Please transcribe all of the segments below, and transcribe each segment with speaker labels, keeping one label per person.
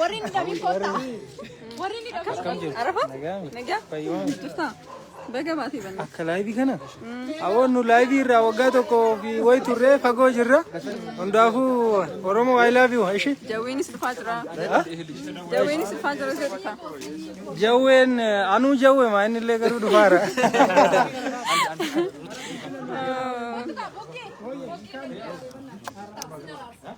Speaker 1: Warri ni dhabii kotta. Warri ni dhabii. Arafa? Nagaa? Jirtaa? Baga baatee banna. Akka laayivii kana?
Speaker 2: Hawoon nu laayivii irraa waggaa tokko fi wayi turree fagoo jirra. Hundaafuu Oromoo I love you ishee. Jawweenis dhufaa jira.
Speaker 1: Jawweenis dhufaa jira ishee dhufa. Jawween
Speaker 2: anuu jawwe maa inni illee garuu dhufaara.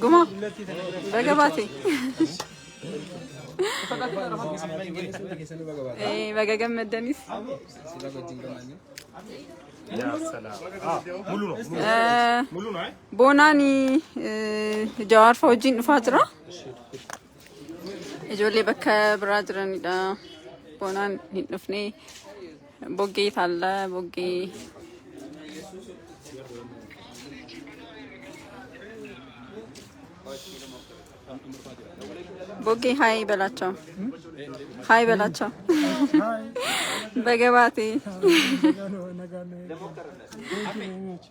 Speaker 1: Guma. Baga baate. Eh, Baga gammaddanis. Eh, Boonaan eh, Jawaarfa wajjin dhufaa jira. Ijoollee bakka biraa jiranidha. Boonaan hin dhufne. Boggee taalla boggee. Boggee haay belaachoo. Haay belaachoo. Baga baatee.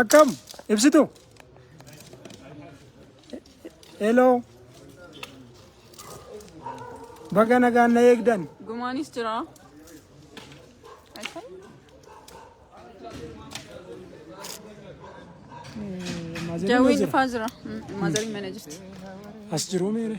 Speaker 2: Akkam ibsitu. Hello. Baga nagaan na eegdan. Gumaanis jira.
Speaker 1: Jawwiin dhufaa jira. Maazariin mana jirti. As jiruu
Speaker 2: meere.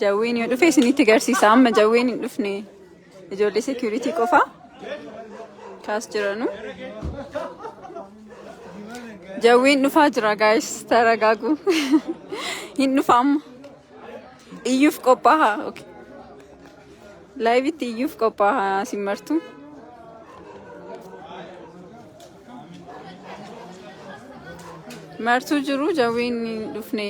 Speaker 1: Jawween yoo dhufe isinitti garsiisa. Amma jawween hin dhufne ijoollee security qofa kaas jiranu. Jawween dhufaa jira guys taragaagu. hin dhufa amma. Iyyuuf qophaa'a. Okay. Laayivitti iyyuuf qophaa'a simmartu. Martuu jiru jawween hin dhufne.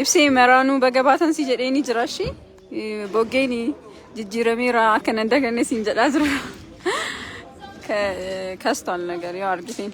Speaker 1: Ibsee maraanuu baga baatan si jedhee ni jira shi. Boggeen jijjiirameera akka nan daganne siin jedhaa jira. Ka- Kastaan nagar yoo argiteen.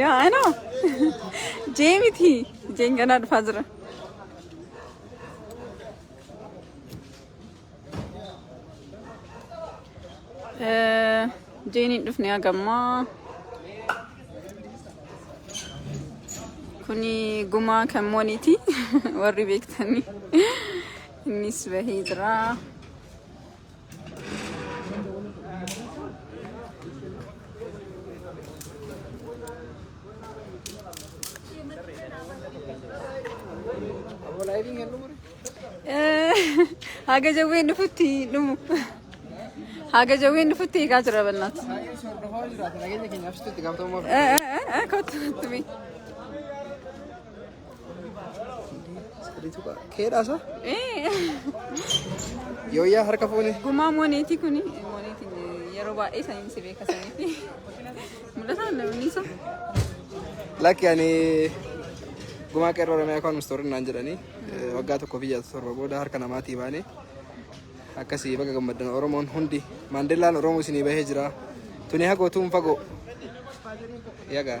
Speaker 1: yaa ano jee miti jeen ganaa dhufaa jira Eh, jeen hin dhufne hagammaa kuni gumaa kan mooniiti warri beektanii innis bahee jira Haga jawween dhufutti dhumu. Haga jawween dhufutti eegaa jira bannaat. Kottu kottu bee.
Speaker 3: Sadii tuqaa. Keedhaa isaa? Yooyyaa harka fuune. Gumaa mooneetii kun
Speaker 1: mooneetiin yeroo baay'ee saniin si beekasaniiti. Mul'ataan namni isa.
Speaker 3: Lakki ani gumaa qeerroo Oromiyaa kan mustoorin naan jedhanii eh, waggaa tokko fi ja'a torba booda harka namaatii baane akkasii baga gammaddan Oromoon hundi Maandeellaan Oromoo isinii bahee jira. Tuni hagootuun fagoo. Yagaa.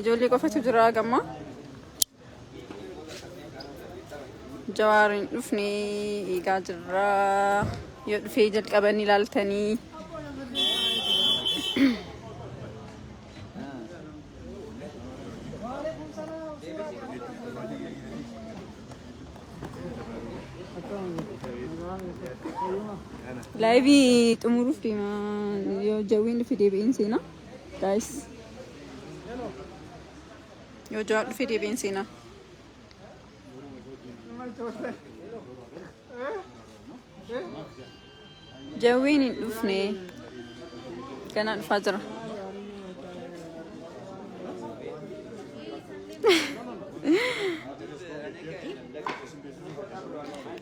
Speaker 1: Ijoollee qofatu jira gamma. Jawaar hin dhufne eegaa jirra. Yoo dhufee jalqabanii ilaaltanii. Laayivii xumuruuf deema yoo jawwiin dhufe deebi'een seenaa. Guys. Yoo jawaa dhufee deebiin seenaa. Jawween hin dhufne. Ganaa dhufaa jira.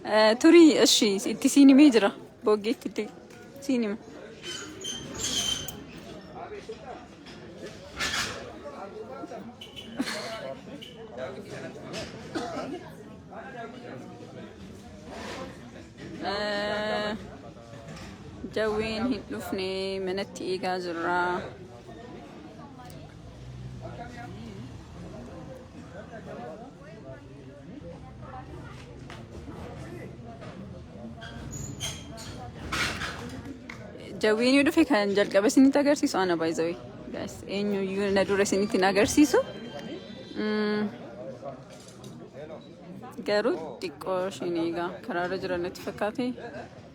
Speaker 1: Eh, Turii, ishi, itti siin himee jira. Booggeetti itti. Siin hima. Eh, Jawween hin dhufne manatti eegaa jirra. Jawwiin yoo dhufe kan jalqaba isinitti agarsiisu ana baay'ee guys eenyuyyuu na dura isinitti hin agarsiisu. Mm. Garuu xiqqoo isheen egaa karaarra jiran natti fakkaate.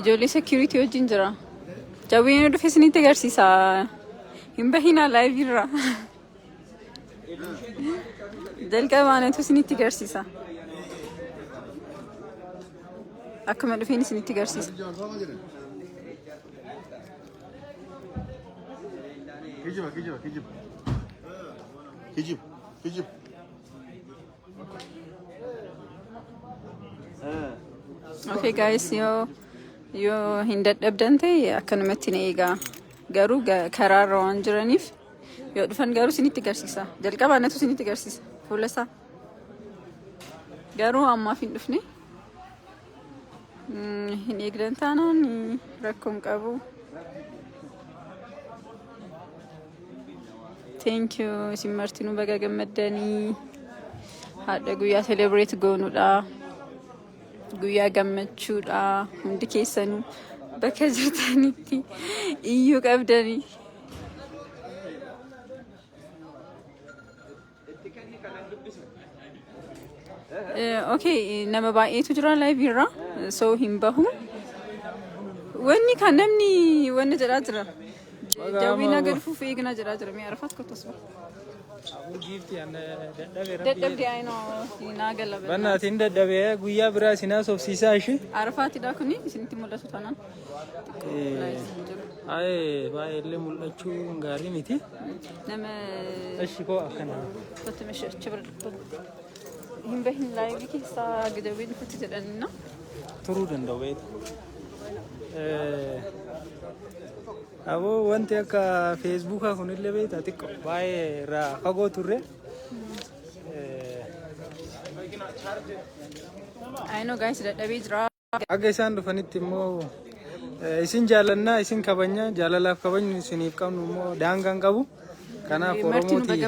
Speaker 1: Ijoollee security wajjin jira. Jawween yoo dhufe isinitti agarsiisa. Hin bahinaa live irra. Jalqabaanatu isinitti agarsiisa. Akkuma dhufeen isinitti agarsiisa. Kijiba, kijiba, kijiba. Kijiba. Kijib. Okay guys yoo yoo hin dadhabdan ta'e akkanumatti na eegaa garuu ga- karaarra waan jiraniif yoo dhufan garuu isinitti garsiisa jalqabaa natu isinitti garsiisa fuula isaa garuu ammaaf hin dhufne Hin eegdan taanaan rakkoon qabu. Thank you isin martinuu baga gammaddanii haadha guyyaa celebrate goonudha. Guyyaa gammachuudha hundi keessanuu bakka jirtanitti iyyuu qabdanii. Itti kennii kanan dubbisu. Okay, nama baay'eetu jira live irra. So hin bahu. Wanni kan namni wanna jedhaa jira. Jawwiinaa gad fuuf eegnaa jedhaa jira. Mee arfaat kottas bahu. Abuu giifti anna dadhabe rabbi. Dadhabde ayinoo naa gala. Bannaatiin dadhabe
Speaker 2: guyyaa biraa isinaa sobsiisaa ishee. Arfaatidha kuni
Speaker 1: isinitti mul'atu taanaan. Aye,
Speaker 2: baay'ee illee mul'achuu gaarii miti. Nama
Speaker 1: Ishi koo
Speaker 2: akkana. nuti mishachi
Speaker 1: bira hin bahin laayivii keessaa gidawwee nuti jedhanna. turuu danda'u
Speaker 2: beektu. Aboo wanti akka feesbuukaa kunillee beekta xiqqoo baay'ee irraa fagoo turre.
Speaker 1: Ayinoo gaa'insi dadhabee jira. Haga isaan dhufanitti
Speaker 2: immoo isin jaalannaa isin kabanya jaalalaaf kabajni isiniif qabnu immoo daangaan qabu. Kanaaf Oromooti.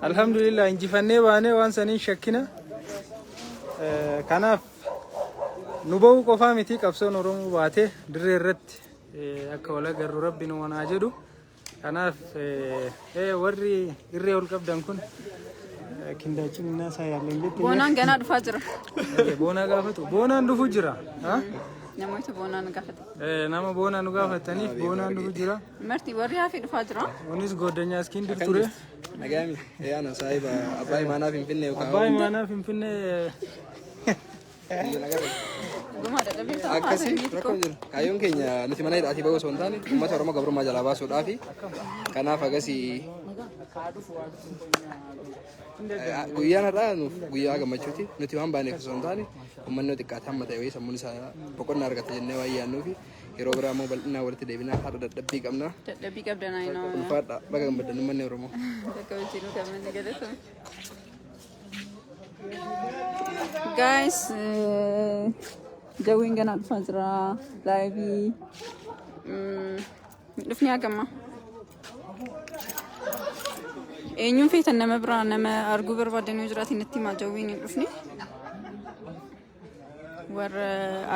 Speaker 1: Alhamdulillah
Speaker 2: injifannee baanee waan saniin shakkina. Kanaaf nu ba'uu qofaa miti qabsoon Oromoo baatee dirree irratti akka wal agarru rabbi nu wanaa jedhu. Kanaaf warri irree ol qabdan kun kindaachiin innaa isaa yaalleen jettee. Boonaan ganaa dhufaa jira.
Speaker 1: Boonaa gaafatu.
Speaker 2: Boonaan dhufu jira. Namoota
Speaker 1: boonaa nu gaafatan. Nama boonaa nu
Speaker 2: gaafataniif boonaan dhufu jira. Marti warri hafi
Speaker 1: dhufaa jira. Kunis goddanyaa iskiin
Speaker 2: dur ture. Nagaami.
Speaker 3: Yaana saahiba abbaa imaanaa finfinnee. Abbaa imaanaa finfinnee. Akkasi rakkoo hin jiru. Kaayyoon keenya nuti mana hidhaatii bahuu osoo hin taane uummata Oromoo gabrummaa jalaa baasuudhaafi. Kanaaf akkasi guyyaan har'aa nuuf guyyaa gammachuuti. Nuti waan baaneef osoo hin taane uummanni yoo xiqqaate hamma ta'e wayii sammuun isaa boqonnaa argata jennee waan yaannuufi yeroo biraa immoo bal'inaan walitti deebinaa har'a dadhabbii qabna. Dadhabbii qabdanaa
Speaker 1: hin Ulfaadha baga gammaddan
Speaker 3: uummanni Oromoo. Akka hojii nu
Speaker 1: qabne ni galatoomi. Guys, jawwiin ganaa dhufaa jira. Laayivii. Dhufni hagamma. Eenyuun feetan nama biraa nama arguu barbaadan yoo jiraate natti himaa jawwiin hin dhufne. warra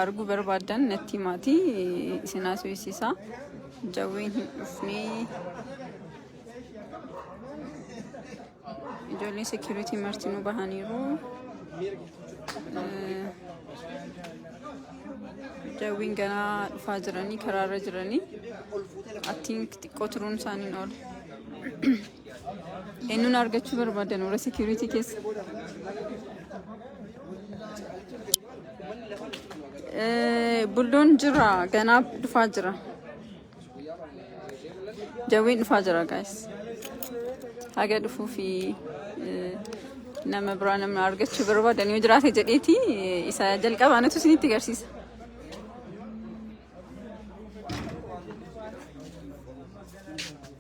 Speaker 1: arguu barbaadan natti himaati isin haasofsiisa jawween hin dhufne ijoollee seekiriitii martinuu bahaniiru Eh, jawwiin ganaa dhufaa jiranii karaarra jiranii attiin xiqqoo turuun isaaniin oola Eenyuun argachuu barbaadan warra security keessa? Eh, Buldoon jira ganaa dhufaa jira. Jawwiin dhufaa jira guys. Haga dhufuu fi eh, nama biraa namni argachuu barbaadan yoo jiraate jedheeti eh, isa jalqaba anatu isinitti agarsiisa.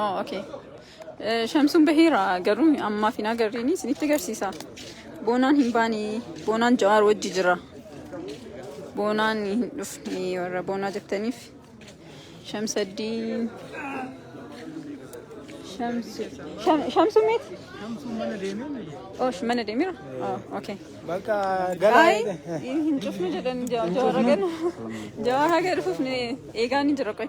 Speaker 3: Oh, okay.
Speaker 1: Eh, Shamsuun baheera garuu ammaaf hin agarreeni isinitti agarsiisa. Boonaan hin baane boonaan jawaar wajji jira. Boonaan hin dhufne warra boonaa jettaniif Shamsaddiin Shamsu Sham- Shamsuun meet? Oh, sh- mana deemira? Oh, okay. Bakka
Speaker 2: Ay,
Speaker 1: hin cufne jedhan jawaar hagan jawaar haga dhufuuf ni eegaa ni jira qoy.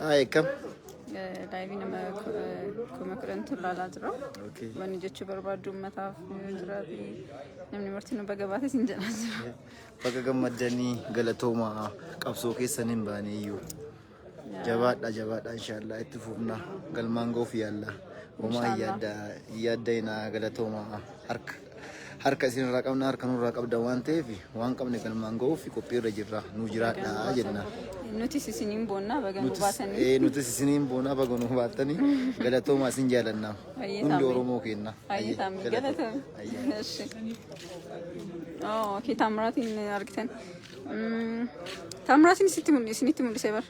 Speaker 4: Haa eekkam. Daa'imni
Speaker 1: nama kuma kudhantu ilaalaa jira. Wanni jechuu
Speaker 4: barbaaddu
Speaker 1: uummataaf yoo jiraate namni marti nu baga baate siin jedhaa jira. Baga gammaddanii
Speaker 4: galatooma qabsoo keessan hin baane iyyuu. Jabaadha jabaadha inshaallah itti fufna galmaan ga'uuf yaalla. Homaa yaadda yaadda inaa galatooma harka. Harka isin irraa qabna harka nurraa qabda waan ta'eef waan qabne galmaan ga'uuf qophii irra jirra nu jiraadhaa jenna. Nutis isiniin
Speaker 1: boonnaa baga nu baatanii. Ee nutis isiniin boonaa
Speaker 4: baga nu baattanii galatoomaa isin jaalannaa Baay'ee hundi taamee. Oromoo keenna. Baay'ee taamee galatoom.
Speaker 1: Eshi. Oo, kee Taamiratiin argitan. Mm, Taamiratiin sitti mul'i- isinitti mul'isee bar.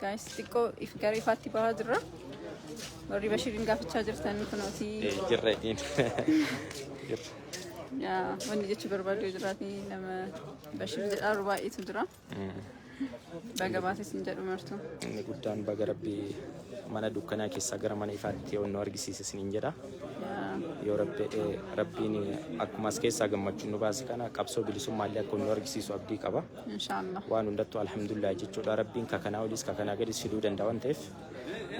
Speaker 1: Gaayis xiqqoo if gara ifaatti bahaa jirra. Warri Bashiriin gaafachaa jirtan kunooti. Jirra ittiin.
Speaker 5: Yaa,
Speaker 1: Wanni jechuu barbaadu yoo jiraate nama Bashir jedhaaru baay'eetu jira. Baga baates hin jedhu martu. Inni guddaan baga
Speaker 5: rabbi mana dukkanaa keessaa gara mana ifaatti yoo nu argisiise isiniin jedha. Yaa, Yoo rabbi jedhee rabbiin akkuma as keessaa gammachuun nu baase kana qabsoo bilisummaa illee akka nu argisiisu abdii qaba. Inshallah. waan
Speaker 1: hundattuu alhamdulillah
Speaker 5: jechuudha rabbiin ka kanaa oliis ka kanaa gadis fiduu danda'a waan ta'eef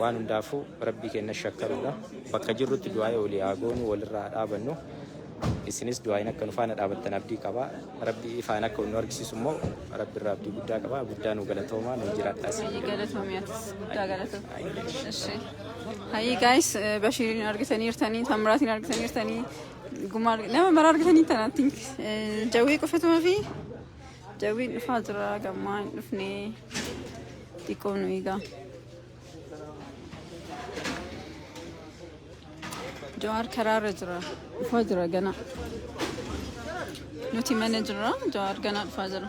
Speaker 5: waan hundaafuu rabbii kenna shakkaruudha bakka jirrutti du'aa'ee olii haa goonu walirraa haa dhaabannu isinis du'aa'iin akka nu faana dhaabattan abdii qaba rabbii ifaan akka nu argisiisu immoo rabbi irraa abdii guddaa qaba guddaa nu galatoomaa nu jiraadhaa isin Hayii galatoomi atis
Speaker 1: guddaa galatoomi. Ishee. Hayii gaayis Bashiiriin argitaniirtanii, Tamraatiin argitaniirtanii, Gumaa nama maraa argatanii tana tink jawwee qofatuma fi jawween dhufaa jira gammaa hin dhufne xiqqoo nu eegaa. Jawaar karaarra jira dhufaa jira gana nuti mana jira jawaar ganaa dhufaa jira.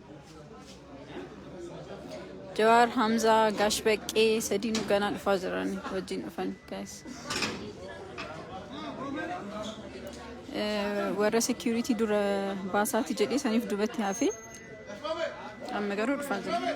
Speaker 1: Jawaar Hamzaa Gaash Baqqee sadiinuu ganaa dhufaa jiran wajjin dhufan guys. Eh, Warra security dura baasaati jedhee saniif dubatti hafe amma garuu dhufaa jira.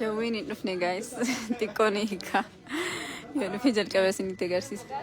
Speaker 1: Jawwiin hin dhufne gaayis xiqqoo ni hiika. Yoo dhufee jalqaba isinitti agarsiisa.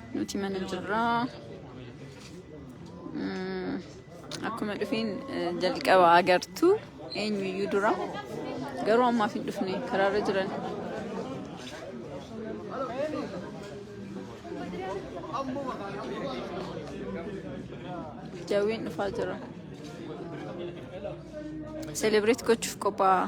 Speaker 1: Nuti mana jirra. Mm, Akkuma dhufeen eh, jalqaba agartu eenyuyyuu dura garuu ammaaf hin dhufne karaarra jiran. Jawween dhufaa jira. Selebireet gochuuf qophaa'aa.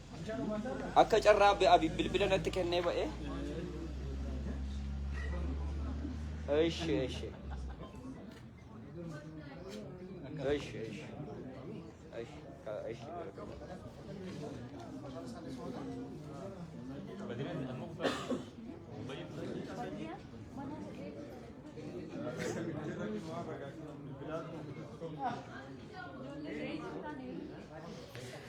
Speaker 6: Akka carraa be abi bilbila natti kennee ba'e. Eshi eshi. Eshi eshi. Eshi ka eshi.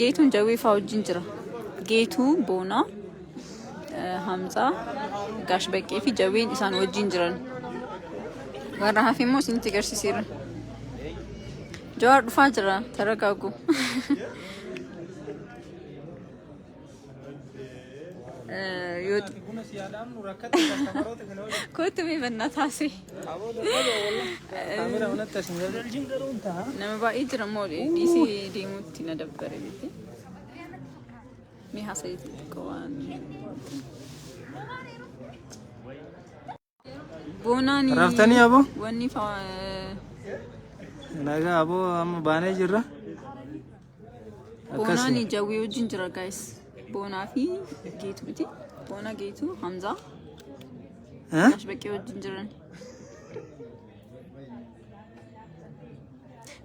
Speaker 1: Geetuun jawwee faa wajjin jira. Geetuu boonaa hamzaa gaash baqqee fi jawween isaan wajjin jiran. Warra hafe immoo isinitti agarsiiseera. Jawaar dhufaa jira taragaagu. Kootu mee bannaa taasise. Nama baay'ee jira moo dhiisee deemuutti na dabbare miti. Mee haasa'eetti xiqqoo waan. Boonaan Raftanii aboo?
Speaker 2: wanni fa- Nagaa aboo amma baanee jirra.
Speaker 1: Boonaan Akkasii. jawwee wajjin jira guys. Boonaa fi geetu miti. Boona geetu Hamzaa Eh? Gash baqqee wajjin jiran.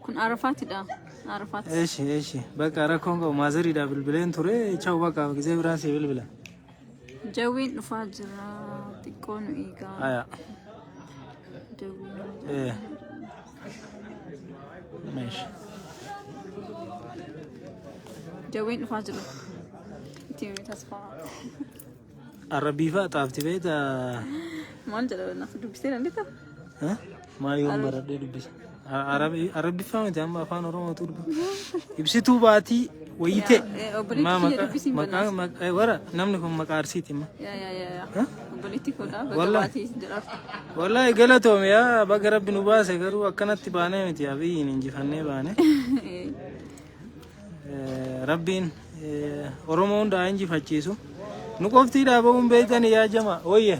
Speaker 1: Kun Arafaatidha. Arafaat. Eeshi eeshi
Speaker 2: bakka rakkoon qabu maazariidhaaf bilbileen ture chaawu bakka gizee biraa si bilbila. Jawwiin
Speaker 1: dhufaa jira xiqqoo nu eegaa. Aya. Jawwiin nu eegaa.
Speaker 2: Eh. Meesha.
Speaker 1: Jawwiin dhufaa jira. Itti himee
Speaker 2: tasfaa. Arabiifaa xaafti beektaa? Maal
Speaker 1: jedha naaf dubbisee dandeetta? Eh?
Speaker 2: Maa yoon baradhee dubbisa. Arabiffaa miti amma afaan Oromootu dubbisa. Ibsituu baatii wayitee. Maa maqaa wara namni kun maqaa arsiiti ma.
Speaker 1: Wallahi
Speaker 2: galatoome yaa baga rabbi nu baase garuu akkanatti baanee miti abiyyiin injifannee baane. Rabbiin Oromoo hundaa injifachiisu. Nu qoftii dhaaba'uun beektan yaa jama wayya.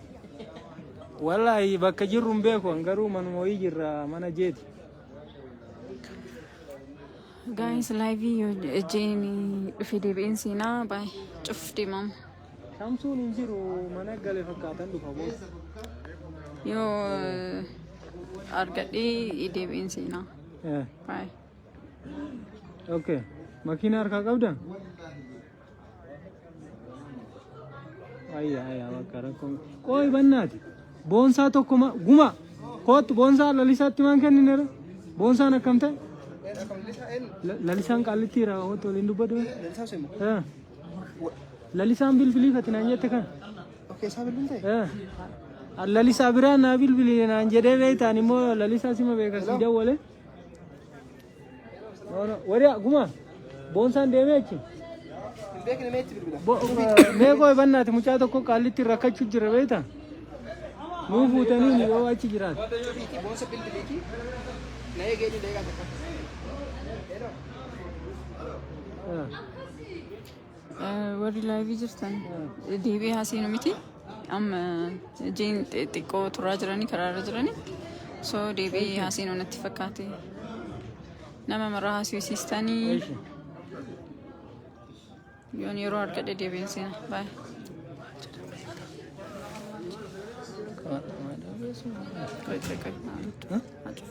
Speaker 2: Wallaahi bakka jirru hin beeku an garuu manuma wayii jirra mana jeeti.
Speaker 1: Gaayis laayivii yoo jeen dhufee deebi'een seenaa baay'ee cuf deemamu. Shamsuun hin
Speaker 2: jiru mana gale fakkaatan dhufa booda.
Speaker 1: Yoo argadhee deebi'een seenaa Eh, baay'ee.
Speaker 2: Okay. Makiina harkaa qabda? Ayya ayya bakka rakkoon. Qoy bannaati. Boonsaa tokko ma guma. Koottu boonsaa lalisaatti maan kenninera. Boonsaan akkam ta'e? La- Lalisaan qaallitti irraa hoottu waliin dubbatu. Eh. Lalisaan bilbilii fati naan jette kan. Eh. Lalisaa biraa naa bilbilii naan jedhee beektaan immoo lalisaa sima beekan si dawwale. Wariyaa gumaa boonsaan deemee achi.
Speaker 3: Mee koo
Speaker 2: bannaati mucaa tokko qaallitti rakkachuu jira beekta. Nuu fuutanii yoo achi jiraatu.
Speaker 3: Ah.
Speaker 1: Warri laayivii jirtan deebi'ee haasinu miti. Amma jeen xiqqoo turaa jiranii karaarra jiranii. So deebi'ee haasinu natti fakkaate. Nama maraa haasisiistanii yoon yeroo argadhe deebi'een seena. Baay'ee. Qoy qoy qoy.